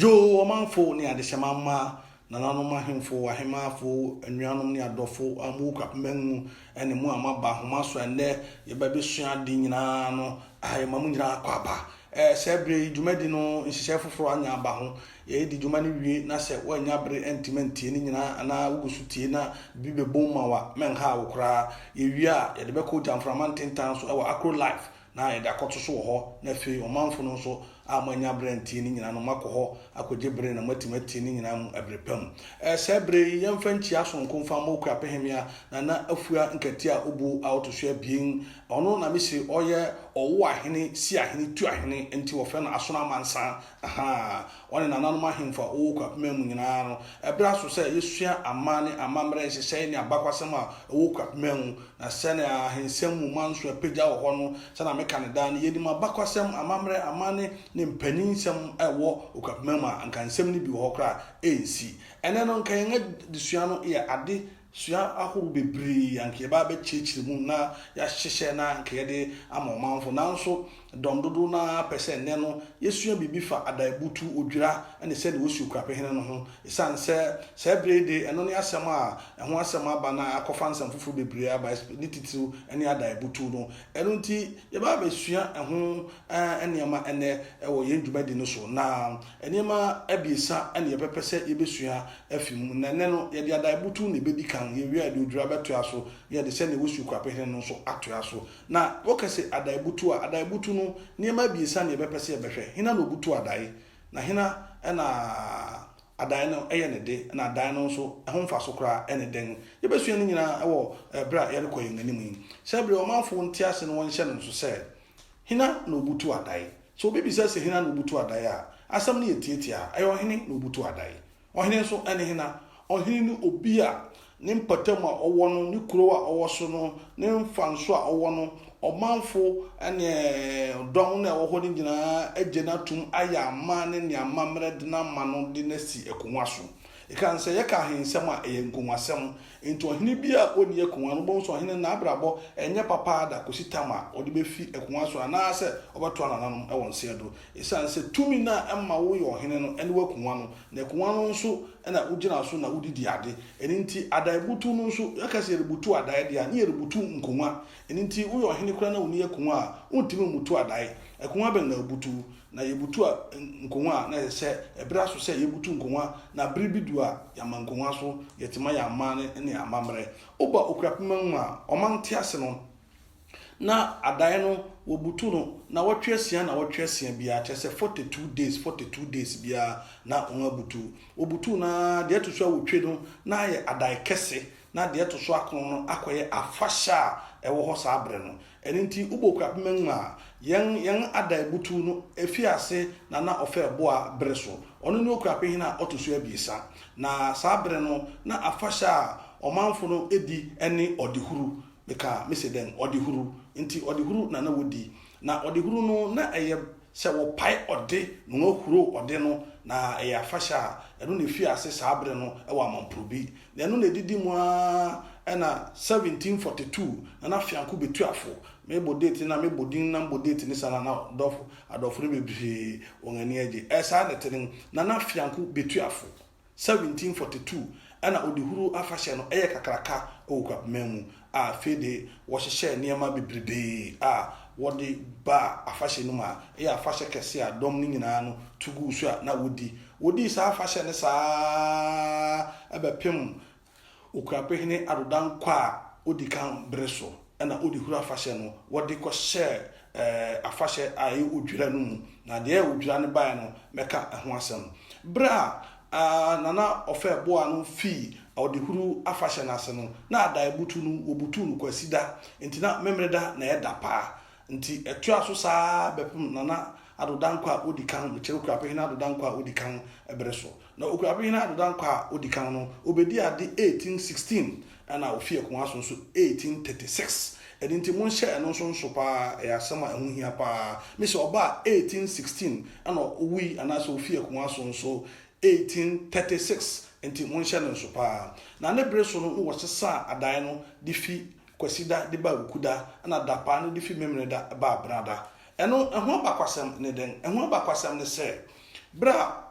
Yoo, ɔmanfo ne adehyɛma mma, nananom ahemfo, ahemmaafo, anuanom ne adɔfo a mowɔ Kwapemman mu, ɛne mo a moaba ahoma so ɛnnɛ, yɛbɛbesua ade nyinaa no a ɛma mo nyinaa akɔ aba. Ɛɛ, saa bere yi dwumadi no nhyehyɛe foforo anya aba ho. Yɛredi dwuma no wie, na sɛ woannya bere antumi antie ne nyinaa anaa wugu so tie na biribi bɛbom ma wo a, mɛnhaw wo koraa. Yewie a, yɛde bɛkɔ Ogya Mframa Ntentan so wɔ Akro Life. na yɛde akɔto so wɔ hɔ, na afei ɔmanfo no nso a moannya bere antie ne nyinaa no, moakɔ hɔ akogye bere na moatumi atie ne nyinaa mu bere pa mu. Ɛ, saa bere yi, yɛmfa nkyia soronko mfa mmɔ Okuapehemea Nana Afua Nkati a obu a ɔto so abien. Ɔno na mise ɔyɛ Ɔwoahene, Siahene, Tuahene, enti wɔfrɛ no Asono Amansan. Ahaa! Wɔne nananom ahemfo a wɔwɔ Kwapima mu nyinaa no, ɛberɛ aso sɛ yɛsua aman ne amammerɛ nhyehyɛe ne abakwasɛm a ɛwɔ Kwapima mu, na sɛnea ahensɛm mu manso apagya wɔ hɔ no, sɛnea meka no daa no, yɛnim abakwasɛm, amammerɛ, amanne ne mpaninsɛm a ɛwɔ Okwapima mu a anka nsɛm no bi wɔ hɔ koraa a ɛnsi. Ɛnnɛ no, anka yɛn adesua no yɛ ade Sua ahorow bebree a anka yɛbɛ abɛkyerɛkyerɛ mu na yɛahyehyɛ na anka yɛde ama ɔmanfo. Nanso dɔm dodow no ara pɛ sɛ nnɛ no yesua biribi fa adaabutu, odwira, ne sɛnea wosi okura pehene no ho. Esiane sɛ saa bere yi de, ɛno ne asɛm a ɛho asɛm aba na akɔfa nsɛm foforo bebree aba, ne titiriw ne adaabutu no. Ɛno nti, yɛbɛ abɛsua ɛho nneɛma nnɛ wɔ yɛn dwumadi no so na Nneɛma abiɛsa na yɛbɛpɛ sɛ yebesua afi mu, na ɛnnɛ no, yɛde adaebutuw na ebedi kan. Yewie a, yɛde odwira bɛtoa so, na yɛde sɛnea wosi okuapɛ hene no nso atoa so. Na wɔka se adaebutuw a, adaebutuw no, nneɛma abiɛsa na yɛbɛpɛ sɛ yɛbɛhwɛ, hena na obutuw adae, na hena na adae no yɛ ne de, na adae no nso, ɛho mfaso koraa ne dɛn? Yebesua ne nyinaa wɔ bere a yɛrekɔ yɛn anim yi. Sɛ bere a ɔmanfo nte ase no wɔnhyɛ no nso sɛ, Hena na obutuw adae? Sɛ obi bisa se hena na obutu adae a, asem no yɛ tiatiaa, ɛyɛ ɔhene na obutu adae. Ɔhene nso ne hena? Ɔhene ne obi a ne mpatam a ɔwɔ no, ne kurow a ɔwɔ so no, ne mfanso a ɔwɔ no, ɔmanfo ne dɔm no a ɛwɔ hɔ no nyinaa agye no atom ayɛ aman ne nea amammerɛ de no ama no de no asi akongua so. Ekan sɛ yɛka ahensɛm a, ɛyɛ nkongua-sɛm. Enti ɔhene bi a ɔnni akongua no, wobɛhu sɛ ɔhene no n'abrabɔ nyɛ papa ara da kɔsi tam a ɔde bɛfi akongua so anaasɛ ɔbɛtoa nananom wɔ nseɛ do. Ɛsiane sɛ tumi no a ɛma woyɛ ɔhene no ne w'akongua no, na akongua no nso na wogyina so na wode di ade. Ɛno nti adaeɛbutuo no nso, yɛka sɛ yɛrebutu adaeɛ deɛ a, na yɛrebutu nkongua. Ɛno nti woyɛ ɔhene koraa na wonni akongua a, wontumi mmutu adaeɛ. Akongua bɛn na wobutu? Na yebutu nkongua a, na ɛsɛ sɛ ɛbere aso sɛ yebutu nkongua, na bere bi du a yɛama nkongua so yɛ tema yɛ amanne ne amammerɛ. Woba Okurapeman mu a, ɔman ntease no, na adaeɛ no wɔbutu no nnawɔtwe asia nnawɔtwe asia biara, kyerɛ sɛ forty two days forty two days biara na wɔn abutu. Wɔbutu no ara, deɛ ɛto so awotwe no na ayɛ adae kɛse, na deɛ ɛto so akron no akɔyɛ afahyɛ a ɛwɔ hɔ saa bere no. Ɛno nti wobɔ kura pema nwuma a, yɛn yɛn Adai butuw no fii ase na na ɔfɛ boa bere so. Ɔno ne Okuapem hene a ɔto so abiɛsa, na saa bere no na afahyɛ a ɔmanfo no di ne ɔdehuru. Meka me se dɛn? Ɔdehuru. Nti ɔdehuru na na wodi. Na ɔdehuru no na ɛyɛ Sɛ wɔpae ɔde na wɔahuro ɔde no, na ɛyɛ afahyɛ a, ɛno na efii ase saa bere no wɔ Amamporobi. Na ɛno na edidi mu ara na 1742 Nana Fianko Betuafo, mebɔ date no na mebɔ din no na mebɔ date no saa na na adɔfo no bebree wɔn ani agye. Ɛyɛ saa na ɛte no. Nana Fianko Betuafo. 1742 na Odehuru afahyɛ no yɛ kakraka wɔ Okwapeman mu, a afei de wɔhyehyɛɛ nneɛma bebrebee a wɔde baa afahyɛ no mu a ɛyɛ afahyɛ kɛse a dɔm no nyinaa no tu guu so a na wodi. Wodii saa afahyɛ no saa ara bɛpem Okuapehene Addo Dankwa a odi kan bere so na ɔde Huro afahyɛ no wɔde kɔhyɛɛ afahyɛ a ɛyɛ Odwira no mu, na deɛ ɛyɛ Odwira no baeɛ no mɛka ɛho asɛm. Berɛ a Nana Ɔfɛɛboaa no fii Ɔdehuro afahyɛ no ase no, na Adaeɛbutu no wɔbutuu no Kwasida, enti na Memeneda na ɛda paa. Nti ɛtoaa so saa ara bɛpem Nana Addo Dankwa a odi kan, mekyerɛ Okuapem Hene Addo Dankwa a odi kan bere so. Na Okuapem Hene Addo Dankwa a odi kan no, obedii ade 1816 ɛna ofii akongua so nso 1836. Ɛno nti monhyɛ ɛno nso nso pa ara, ɛyɛ asɛm a ɛho hia pa ara. Me se ɔbaa 1816 ɛna owui anaasɛ ofii akongua so nso 1836, nti monhyɛ no nso pa ara. Na ne bere so no na wɔsesaa adae no de fi Kwasida de baa Wukuda na Dapaa no de fi Memeneda baa Benada. Ɛno, ɛho abakwasɛm ne dɛn? Ɛho abakwasɛm ne sɛ, bere a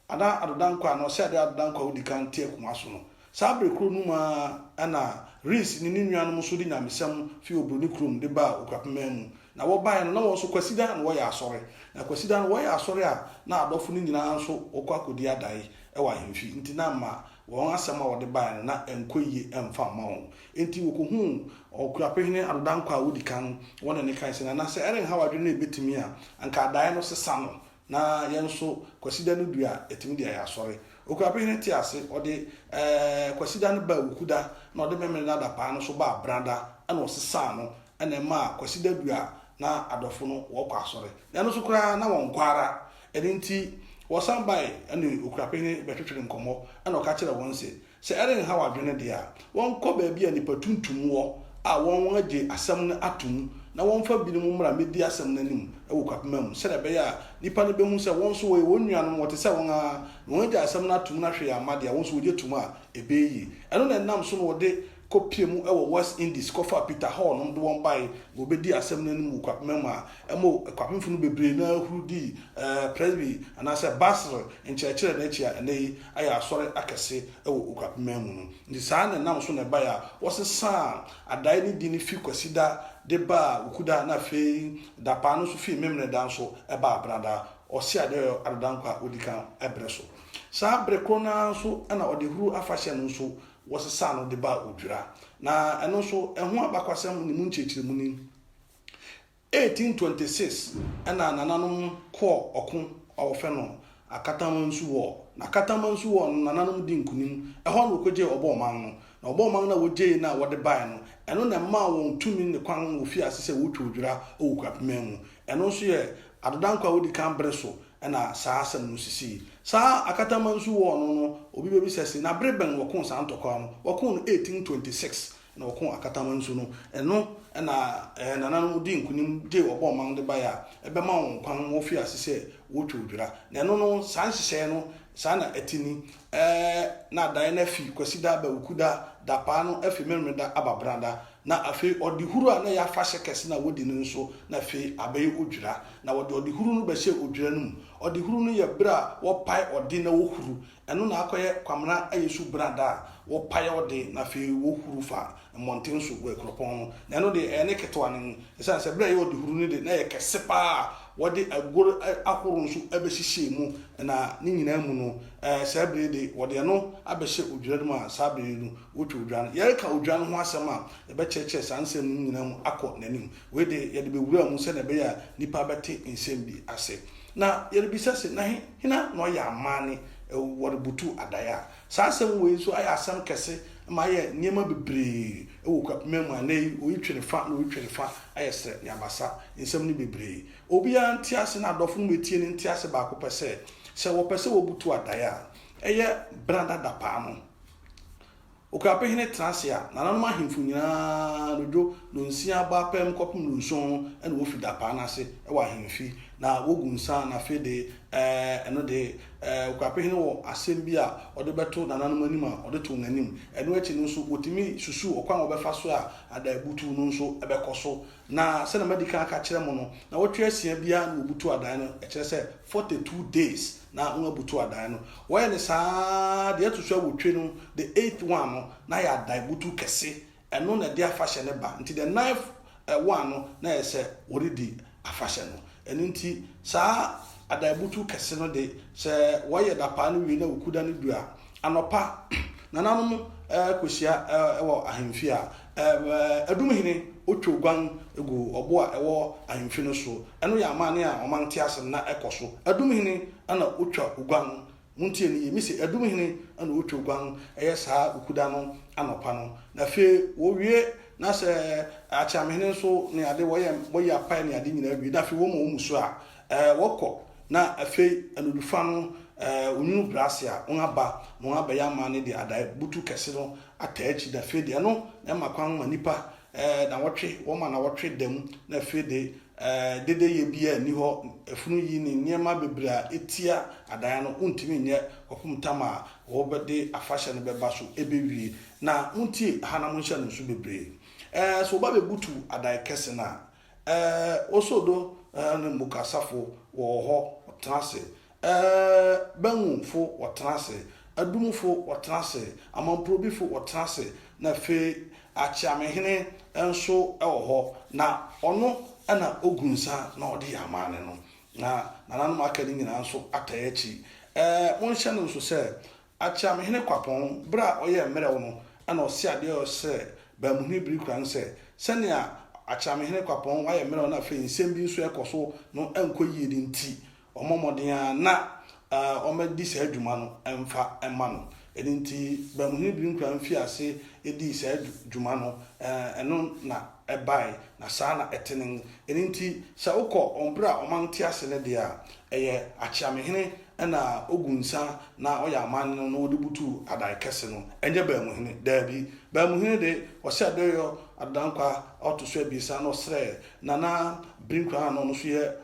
Ada Adodankwa anaa Ɔseade Adodankwa a odi kan te akongua so no, saa bere koro no mu ara na Rees ne ne nuanom nso de nyamesɛm fi Obroni kurom de baa Okurapeman mu. Na wɔbae no, na wɔn nso Kwasida na wɔyɛ asɔre. Na Kwasida no wɔyɛ asɔre a, na adɔfo no nyinaa nso wɔkɔ akodi adae wɔ ahemfi, enti na ɛmma wɔn asɛm a wɔde bae no na ɛnkɔ yiye mfa mma wɔn. Enti wokohuu Ɔkuapehene Adodankwa a odi kan no, wɔne no kae sɛ, Nana, sɛ ɛrenhaw adwene na ebetumi a, anka adae no sesa no, na yɛn nso Kwasida no du a, yɛatumi de ayɛ asɔre. Okuapehene tee ase, ɔde Kwasida no baa Wukuda, na ɔde Memeneda adapaa no nso baa Benada, ɛnna ɔsesaa no, ɛnna ɛmaa Kwasida du a, na adɔfo no wɔkɔ asɔre. Na ɛno nso koraa, na wɔnkɔ ara. Ɛno nti, wɔsan bae ne Okuapehene bɛtwetwee nkɔmmɔ, ɛnna ɔka kyerɛɛ wɔn se, Sɛ ɛrenhaw adwene de a, wɔnkɔ baabi a nnipa tuntum wɔ a wɔagye asɛm no atom na wɔmfa binom mmra mmedi asɛm no anim wɔ kwapema mu, sɛnea ɛbɛyɛ a nnipa no behu sɛ wɔn nso wɔyɛ wɔn nuanom, wɔte sɛ wɔn ara, na wɔagye asɛm no atom na hwee amma de a, wɔn nso wogye tom a, ɛbɛyɛ yie. Ɛno na ɛnam so na wɔde kɔpie mu wɔ West Indies kɔfaa Peter Hall nom de wɔn bae ma wɔbedii asɛm no anim wɔ kwapema mu a ɛma kwapemfo no bebree no ara huru dii Presby anaasɛ Basel nkyerɛkyerɛ no akyi a ɛnnɛyi ayɛ asɔre akɛse wɔ Okurapeman mu no. Nti saa na ɛnam so na ɛbae a wɔsesaa adae no din no fi Kwasida de baa Wukuda na afei dapaa no nso fii Memeneda nso baa Benada, ɔse Adeɔyɔ Adodankwa a odi kan bere so. Saa bere koro no ara nso na Ɔdehuru afahyɛ no nso wɔsesaa no de baa Odwira. Na ɛno nso, ɛho abakwasɛm ne mu nkyerɛkyerɛmu ni. 1826 na nananom kɔɔ ɔko a wɔfrɛ no Akatamansu War. Na Akatamansu War no nananom dii nkonim. Ɛhɔ na wɔkɔgyee Ɔbɔɔman no. Na Ɔbɔɔman no a wɔgyee no a wɔde baeɛ no, ɛno na ɛmaa wɔn tumi ne kwan ma wɔfii ase sɛ wɔretwa odwira wɔ Kwapeman mu. Ɛno nso yɛ Adodankwa a ɔdi kan bere so na saa asɛm no sisii. Saa Akatamansu War no no, obi bɛbisa se, na bere bɛn na wɔkoo saa ntɔkwaw no? Wɔkoo no 1826. na ɔkoo Akataman nso no, ɛno na ɛɛ Nana no dii nkunim gyee ɔbɔ ɔman de baeɛ a ɛbɛma wɔn kwan ma wɔfiri ase sɛ wɔretwa odwira. Na ɛno no, saa nhyehyɛeɛ no, saa na ɛte ni, ɛɛ na daeɛ no afi Kwasida aba Wukuda, Dapaa no afi Memeneda aba Benada, na afei Ɔdehuro a na ɛyɛ afahyɛ kɛse no a wɔdi no nso, na afei abɛyɛ Odwira. Na wɔde Ɔdehuro no bɛhyɛ odwira no mu. Ɔdehuro no yɛ berɛ a wɔpae ɔde na wɔhuru Ɛno na akɔyɛ Kwamena ayɛ su brada a wɔpae ɔde na afei wɔhuru fa mmɔnten so wɔ akuropɔn no. Na ɛno deɛ, ɛyɛ ne ketewa no mu, ɛsiane sɛ berɛ a ɛyɛ ɔdehuru no de, na ɛyɛ kɛse pa ara a wɔde aguo ahorow nso bɛhyehyɛɛ mu, na ne nyinaa mu no, saa bere yi de, wɔde ɛno abɛhyɛ odwira no mu a saa bere yi no, wɔtwa odwira no. Yɛreka odwira no ho asɛm a, yɛbɛkyerɛkyerɛ saa nsɛm no nyinaa mu akɔ n'anim. Wei de, yɛde bɛwura mu sɛdeɛ ɛbɛyɛ a nnipa bɛte nsɛm bi ase. Na yɛrebisa se, na he, hena na ɔyɛ amaane? Wɔrebutu adaeɛ a. Saa asɛm wei nso ayɛ asɛm kɛse ma ayɛ nneɛma bebree wɔ Kwapima mu a nnɛ yi oyi twere fa na oyi twere fa, ayɛ serɛ ne abasa. Nsɛm no bebree. Obiara nte ase na adɔfo no bɛtie no nte ase baako pɛ sɛ, sɛ wɔpɛ sɛ wɔbutu adaeɛ a, ɛyɛ bra dada paa no, Okrape hene tra ase a, nananom ahemfo nyinaa dodwo nonsia ba pɛm kɔpem nonson no na wofi da paa no ase wɔ ahemfi na wogu nsa na afei de eh, ɛno de eh, Okrape hene wɔ asɛm bi a ɔde bɛto nananom anim a ɔde to wɔn anim. Ɛno akyi no nso wɔtumi susu ɔkwan a wɔbɛfa so a adaabutuw no nso bɛkɔ so Na sɛnea madi kan aka akyerɛ mo no, nnawɔtwe asia biara na wɔbutu adan no, ɛkyerɛ sɛ, forty two days na wɔabutu adan no. Wɔyɛ no saa ara, deɛ ɛto so awotwe no, the eighth one no, na ayɛ adan butu kɛse, ɛno na ɛde afahyɛ no ba. Nti the ninth one no, na ɛyɛ sɛ wɔredi afahyɛ no. Ɛno nti, saa adan butu kɛse no de, sɛ wɔyɛ dapaa no wie na Wukuda no du a, anɔpa, nananom kɔhyia wɔ ahemfie a Edom hene otwa oguan gu ɔbo a ɛwɔ ahemfi no so. Ɛno yɛ amanne a wɔma nte ase no na ɛkɔ so. Edom hene na otwa oguan. Muntie no yiye. Mise, Edom hene na otwa oguan, ɛyɛ saa Wukuda no anɔpa no. Na afei wɔawie, na sɛ akyeamehene nso ne ade, wɔyɛ wɔyɛ apae ne ade nyinaa wie, na afei wɔma wɔn mmusu a, ɛɛ, wɔkɔ. Na afei anadwofa no, ɛɛ, onwunu brɛ ase a, wɔaba, na wɔabɛyɛ amanne de adae butuw kɛse no ataa akyi na afei de ɛno na ɛma kwan ma nnipa nawɔtwe, wɔma nawɔtwe da mu na afei de dedeyɛ biara nni hɔ, afunu yi ne nneɛma bebree a etia adan no wontumi nyɛ kɔpem tam a wɔde afahyɛ no bɛba so ɛbɛwie. Na montie ha na monhyɛ no nso bebree. Ɛɛ sɛ wɔba bɛbutu adan kɛse no a, ɛɛ Oso do ne Mboka asafo wɔwɔ hɔ, wɔtena ase Ɛɛ, Bangumfo wɔtena ase, Adumfo wɔtena ase, Amamprobifo wɔtena ase, na afei Akyeamehene nso wɔ hɔ, na ɔno na ogu nsa na ɔde yɛ amanne no, na nananom a aka no nyinaa nso ataa akyi. Ɛɛ, monhyɛ no nso sɛ, Akyeamehene Kwapɔn, bere a ɔyɛɛ mmerɛw no na ɔsee ade a ɔsɛ Bamuhene Birikura no sɛ, sɛnea Akyeamehene Kwapɔn ayɛ mmerɛw na afei nsɛm bi nso rekɔ so no nkɔ yiye no nti, wɔmmɔ mmɔden ara na wɔadi saa dwuma no mfa mma no. Ɛno nti, Bamuhene Birinkwaam fii ase dii saa dwuma no, ɛno na ɛbae, na saa na ɛtenen. Ɛno nti, sɛ wokɔ wɔn bere a ɔman te ase no deɛ a, ɛyɛ Akyeamehene na ɔgu nsa na ɔyɛ amanne no na wɔde butu Adaekɛse no, ɛnyɛ Bamuhene. Daabi, Bamuhene de, ɔhyɛ Adoyɔ Adodankwa a ɔto so abiɛsa na ɔsrɛɛ Nana Brinquan a na ɔno nso yɛ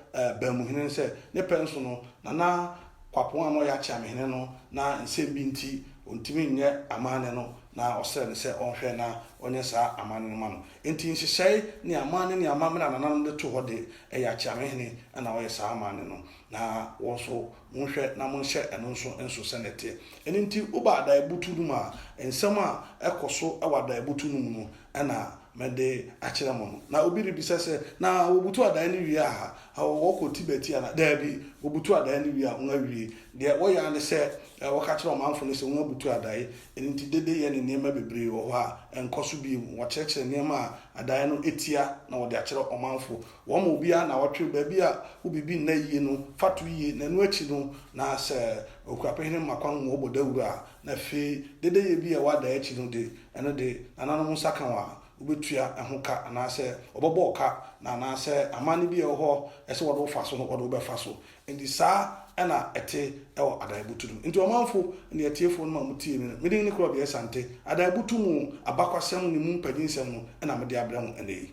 Banmuhene no sɛ, ne pɛ nso no, Nana Kwapong a na ɔyɛ Akyeamehene no, na nsɛm bi nti ɔntumi nyɛ amanne no, na ɔsrɛɛ no sɛ ɔnhwɛ na ɔnyɛ saa amanne no mma no. Enti nhyehyɛe ne amanne ne amammerɛ a nananom de too hɔ de, ɛyɛ Akyeamehene na ɔyɛ saa amanne no, na wɔn nso monhwɛ na monhyɛ ɛno nso nso sɛnea ɛteɛ. Ɛno nti, woba Adaaebutuw no mu a, nsɛm a ɛkɔ so wɔ Adaaebutuw no mu no, na mede akyerɛ mo no. Na obi rebisa sɛ, Na wɔbutu adaeɛ no wie aha? Ao, wɔkɔ Tibet yi anaa? Daabi, wɔbutu adaeɛ no wie a, wɔawie. Deɛ wɔyɛ ara ne sɛ wɔka kyerɛ ɔmanfoɔ no sɛ wɔabutu adaeɛ. Ɛno nti, dede yɛ ne nneɛma bebree wɔ hɔ a ɛnkɔ so bio. Wɔkyerɛkyerɛ nneɛma a adaeɛ no tia na wɔde akyerɛ ɔmanfoɔ. Wɔma obiara nnawɔtwe, baabi a wo biribi nna yie no, fa to yie, na ɛno akyi no, na sɛ Okuapehene ma kwan ma wɔbɔ dawuro a, na afei dedeyɛ bi a ɛwɔ adaeɛ akyi no de, ɛno de, nananom nsa ka wɔn a, wobetua ɛho ka anaasɛ wɔbɛbɔ wo ka, na anaasɛ amanne bi a ɛwɔ hɔ a sɛ wɔde wo fa so no, wɔde wo bɛfa so. Enti saa na ɛte wɔ Adaabutu no. Enti ɔmanfo ne atiefo no ma mutie me no, me din ne Claude Asante, Adaabutu mu Abakwasɛm ne mu mpanyinsɛm no na mede abrɛ mo nnɛ yi.